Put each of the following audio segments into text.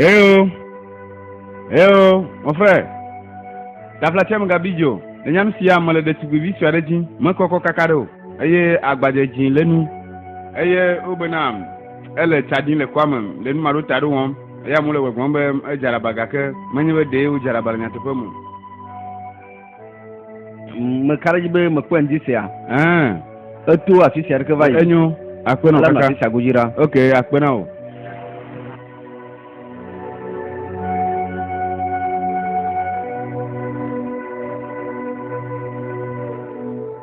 Hello. Hello, mon frère. La flatiam gabijo. Le nyam sia mele ɖetugbivi sue aɖe dzi. Mekɔkɔ kaka ɖe o. Eye agbadze dzĩ le nu. Eye wobena ele tsa ɖim le kɔa me le nu maɖo ta ɖo wɔm. Eya mu le gbɔgbɔm be edzalaba gake menye be ɖee wodzalaba le nyateƒe me. Meka ɖe edzi be mekpɔe ŋdi sia. Ɛɛ. Eto afi sia ɖeke va yi. Enyo. Akpena kaka. Afi sia godzi ɖa. Ok, akpena o.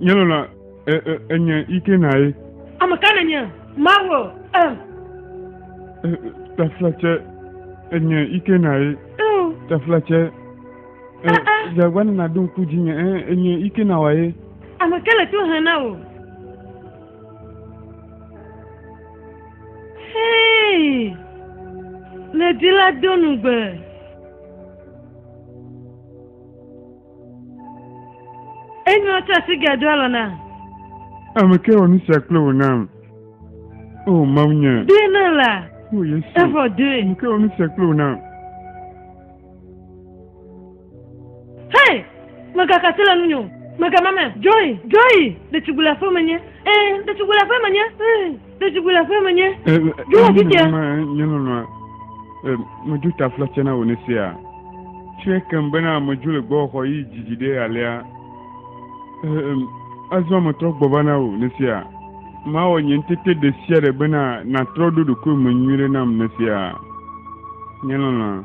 Nye lɔla e, e, enye ike na ye. Ame ka nenye Mawu? Em. E, Taflatse enye ike na ye. Taflatse. Dzagba e, nana do ŋku dzinye enye ike na wa ye. Ame ka le to hã na wò? Hei, le di la do nugbe. Enyɔ tsa si ge do alɔ na. Ame ke wɔ nu sia kple wò nam. O Mawu nye. Doe na la. O Yesu. Evɔ doe. Ame ke wɔ nu sia kple wò nam. Hei, megaka si le nunyo. Megamame. Joy, Joy, ɖetugbu le aƒeme nye. Ee, ɖetugbu le aƒeme nye. Ee. Ɖetugbui le aƒeme nye. Ɖo afi tia. Nye lɔlɔa, medzo ta fla tsena wò ne sea. Tsɔe kem bena medzo le gbɔxɔ yi dzidzi ɖe alea. Azɔ metrɔ gbɔ va na wò ne sea. Mawɔ nye ŋutete ɖe sia ɖe bena nàtrɔ ɖo ɖokuiwò me nyuie ɖe nam ne sea. Nye lɔlɔa.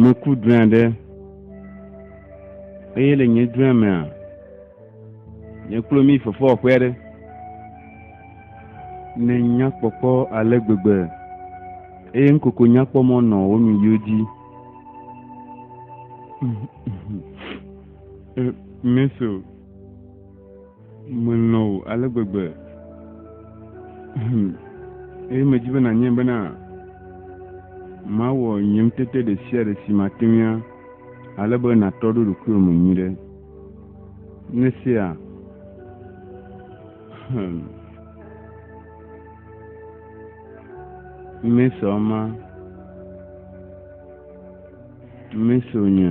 Meku drɔ̃e aɖe, eye le nye drɔ̃e mea, nye kple mi fefewɔƒe aɖe. Ne nyakpɔkpɔ ale gbegbe, eye ŋkoko nyakpɔ mɔ nɔ wo nu yiwo dzi. Meso Melɔ̃ wò ale gbegbe. Hum. Eye medi be nànyae bena mawɔ nye ŋutete ɖe sia ɖe si mate ŋui ale be nàtɔ ɖo ɖokuiwò me nyuiɖe. Ne sea. Hum. Mesɔ ma. Mesɔ nye.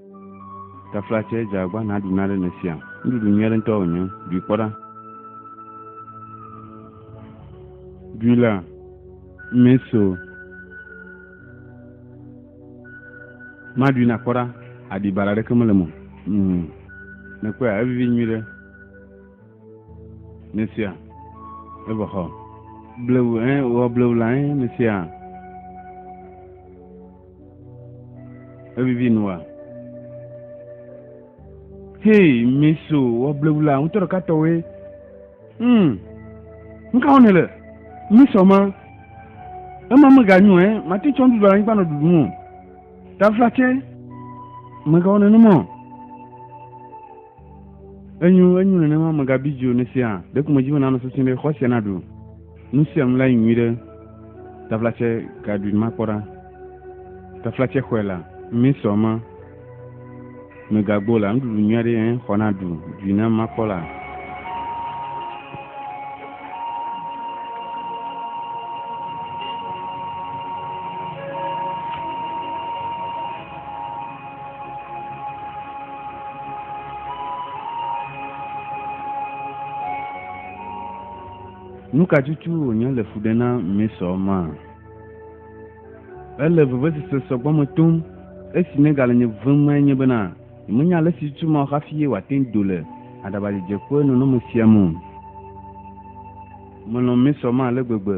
Tafla tsɛ dze agba naɖu na ɖe nèsia. Nuɖuɖu nyui aɖe ŋutɔ wònye. Ɖui kpɔ ɖa. Ɖui la, eme so. Maɖui nàkpɔ ɖa. Aɖibala aɖeke mele eme o. Nèkpɔea? Evivi nyuiɖe. Mesia, eva xɔ. Blewu, ɛ, eh, wɔ blewu la, ɛ, eh, mesia. Evivi nua. Hei, meso, wɔ blewu la, ŋutɔ ɖeka tɔwe. Hmm, ŋka wɔ ne le? Mesɔ ma. Ema meganyo, ɛ, eh, mate tsɔ nuɖuɖu anyigba nɔ ɖuɖu ŋu. Taflatse, megawɔ nenumɔ. Enyo, enyo nenema megabi dzi o ne sia. Ɖeko medzi be nanɔ sesĩ ɖe xɔ sia naɖu nu sia nu la yi nyuiɖe. Taflatsɛ ka ɖui makpɔ ɖa? Taflatsɛ xɔe la, mi sɔ ma. Megagbo la, nuɖuɖu nyui aɖe ẽ xɔ naɖu dui na makpɔ la. Nu ka tutu wònye le fu ɖe na Mesɔ ma? Ele vevesese sɔgbɔ me tom. Esi negale nye vem mae nye bena nyemenya ale si tutu ma o hafi ye wòate ŋu do le aɖabadzedze ƒe nɔnɔme sia me o. Melɔ̃ Mesɔ ma ale gbegbe.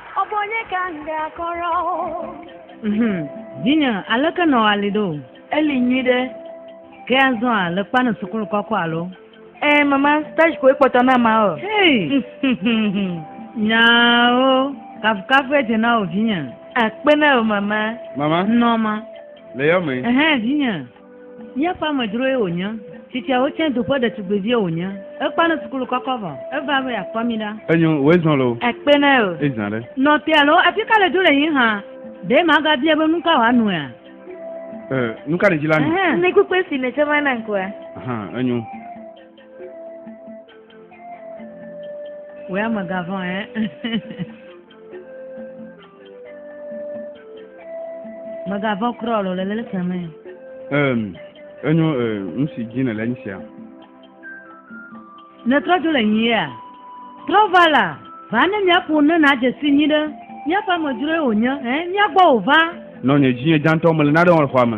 Mhm. Vinye, aleke nɔ ali ɖo? Eli nyui ɖe. Ke azɔ a le kpa ne sukulu kɔkɔ alo? Ɛ, eh, mama, stage koe kpɔtɔ na ma o. Hey! Nyawo, kafukafu edze na o vinye. Akpe na o mama. Mama. Nɔma. Le yɔ me. Ɛhɛn, vinye. Míaƒe amedzroe wònye. Tsitsiawo tsɛ du ƒe ɖetugbivie wònye. Ekpɔ alẽ sukulu kɔkɔ vɔ. Eva be yeakpɔ mí ɖa. Enyo, wòe zɔ̃ loo. Ekpe na ye o. Ezã ɖe. Nɔ te alo afi ka le do le yí hã? Ɖe magabia be nu ka wòanoea? E, nu ka ɖedzi la nu? Ɛhɛn, ne kpukpui si nètsɔ va nam koa. Aha, enyo. Wòe amegã vɔ̃, ɛɛ. Mègavɔ̃ kura o, le leke me. Ehm, enyo eh, nu si dzi nèle nye sia. Nètrɔ dzo le nyia? Trɔ va la, va ne míaƒo nu ne nàdze si nyuie ɖe. Míaƒe amedzroe wònye, ɛ̃, mía gbɔ wòva. Nɔ nye dzinye dzãtɔ, mele nane wɔm le xɔa me.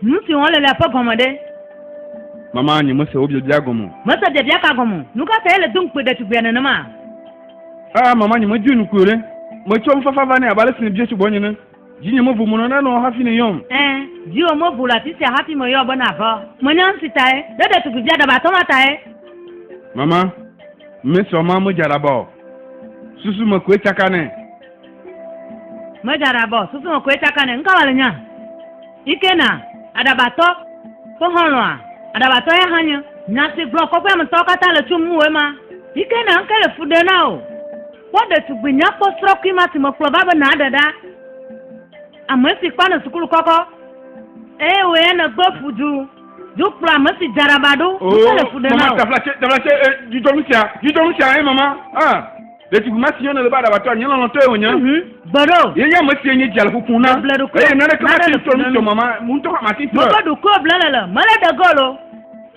Nu si wɔm le lea ƒe gɔme ɖe? Mama, nyemese wò biabia gɔme o. Mèse biabia ka gɔme o? Nu ka tae èle dom kpee ɖetugbia nenema? Aa, Mama, nyemedui nukui o ɖe! Metsɔ nufafa va nɛ abe ale si nèbia tso gbɔnye ene. Dzinye mevo menɔ nane o hafi nèyɔm. Ẽ, dziwò mevo le afi sia hafi meyɔ be nàva o. Menya nu si tae. Ɖe ɖetugbivia ɖabatɔ ma tae. Mama, Miss Oma medze aɖaba o. Susu me koe tsaka nɛ. Meja ɖa bɔ susu me koe tsaka ne ŋka wale nya. Ike na aɖabatɔ ƒe xɔlɔa aɖabatɔ ya hã nye. Nya si gblɔ kɔƒea me tɔwo katã le tso ŋuwòe ma. Ike na ŋke le fu ɖe na wò. Kpɔ ɖetugbui nyakpɔ srɔkui ma si mekplɔ va be nàɖe ɖa. Ame si kpɔ nɔ sukulu kɔkɔ eye wò ya nègbe fu du du kplɔ ame si dze aɖaba ɖo ŋke le fu ɖe na wò. Mama taflatse taflatse eh, dudɔnu sia dudɔnu sia eh mama ah. Ɖetugbi ma si yɔna le be aɖabatɔa, nye lɔlɔ̃tɔe wònye. Mhm. Gbeɖo. Ye nye ame sie nye dzi le ƒuƒum na. Meble ɖokuiwò. Eye naneke Mele mate ŋu trɔ nu ƒuƒum tso mama ŋutɔ ƒe mati trɔe. Meble ɖokuiwò ble le le. Mele de gol o.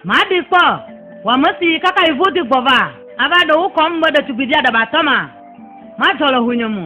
Maɖee kpɔ. Wò ame si kaka yi vodi gbɔ va. Ava ɖe wò kɔm be ɖetugbivi aɖabatɔ ma. Madzɔ le hunyem o.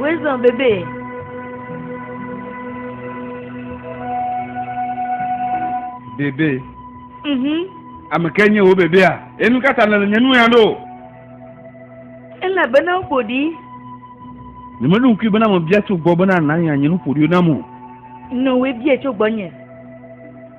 Wisdom bebe. Bebe. Mhm. Ame ke nye wo bebea? Enu ka ta nèle nye nu ya ɖo? Elabena woƒo ɖi. Nyemeɖo ŋkui bena mebia tso gbɔ bena nànya nye nuƒoɖiwo nam o. Nɔwoe bia tso gbɔnye.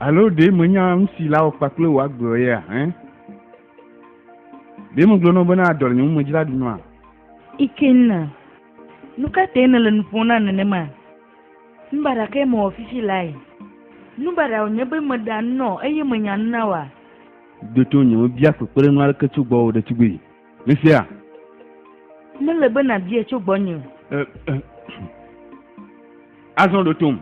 Alo ɖe menya nu si la wɔ kpakple wò agbewo ya hẽ? Ɖe megblɔ na wò bena adɔ le nye ŋu medzra ɖu nɔa? Ikenna, nu ka tae nèle nu ƒom na nenema? Nu baɖa kae mewɔ fifi lae? Nu baɖa wònye be meɖea nu na wò eye menya nu na wòa? Ɖo to ŋunye mebia kpekpeɖeŋu aɖeke tso gbɔwò ɖetugbui. Mesea? Mele be nàbiae tso gbɔnye o. Ɛ, ɛ, azɔ ɖo tom.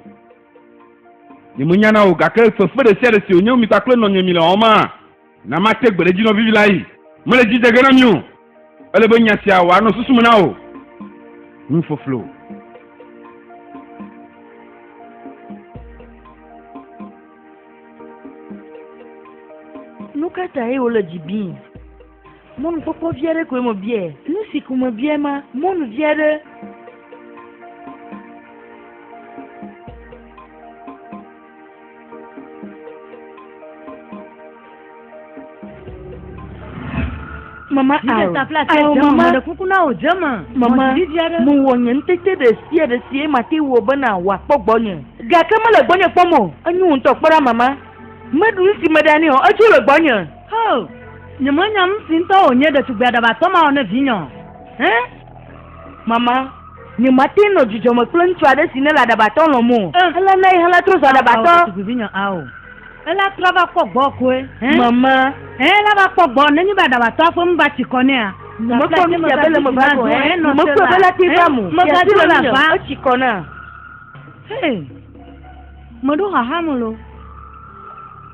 Nyemenya o, gake fefe ɖe sia ɖe si wònye mi kpakple nɔnye mile wɔm ma, na mate gbe ɖe edzi nɔvivi layi. Mele dzi dze ge na mi o. Ele be nya sia wòanɔ susu me na wò. Nufloflo. Nu ka tae wole dzi bim? Mɔnukpɔkpɔ vi aɖe koe mebiae. Nu si ko mebiae ma, mɔnu vi aɖe. Mama awo, awo mama, mama, mewɔ nye ŋutete ɖe sia ɖe si mate wɔ bena wòakpɔ gbɔnye. Gake mele gbɔnye kpɔm o. Enyo ŋutɔ kpɔ ɖa mama. Meɖu nu si meɖa nɛ o, edzo le gbɔnye. Oh, nyemenya nu si ŋutɔ wònye ɖetugbi aɖabatɔ ma o ne vinye o. Hẽ? Mama, nyemate ŋu nɔ dzidzɔ me kple ŋutsu aɖe si nele aɖabatɔ lɔm o. Oh. Ele na ye hele trɔ zu aɖabatɔ. Ao, ɖetugbivinye, ao. Ela trɔ va kpɔ gbɔwò koe. Hẽ? Mama. Ɛ̃, ela va kpɔ gbɔwò nenye be aɖabatɔa ƒe nu va tsi kɔ nɛa? Nyemekpɔ nu sia be le me va do. Ɛ̃, nyemekpɔe be ela te vam o. Sia dzi le ŋunye o, etsi kɔ nam. Hey, meɖo xaxa me loo.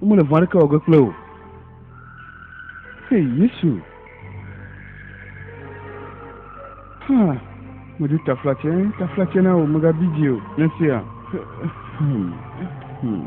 Womele vɔ̃ aɖeke wɔ ge kple wò. Hei Yesu! Ha, meɖo taflatse, taflatse na wò, megabi dzi o, ne sea. Hmm. Hmm.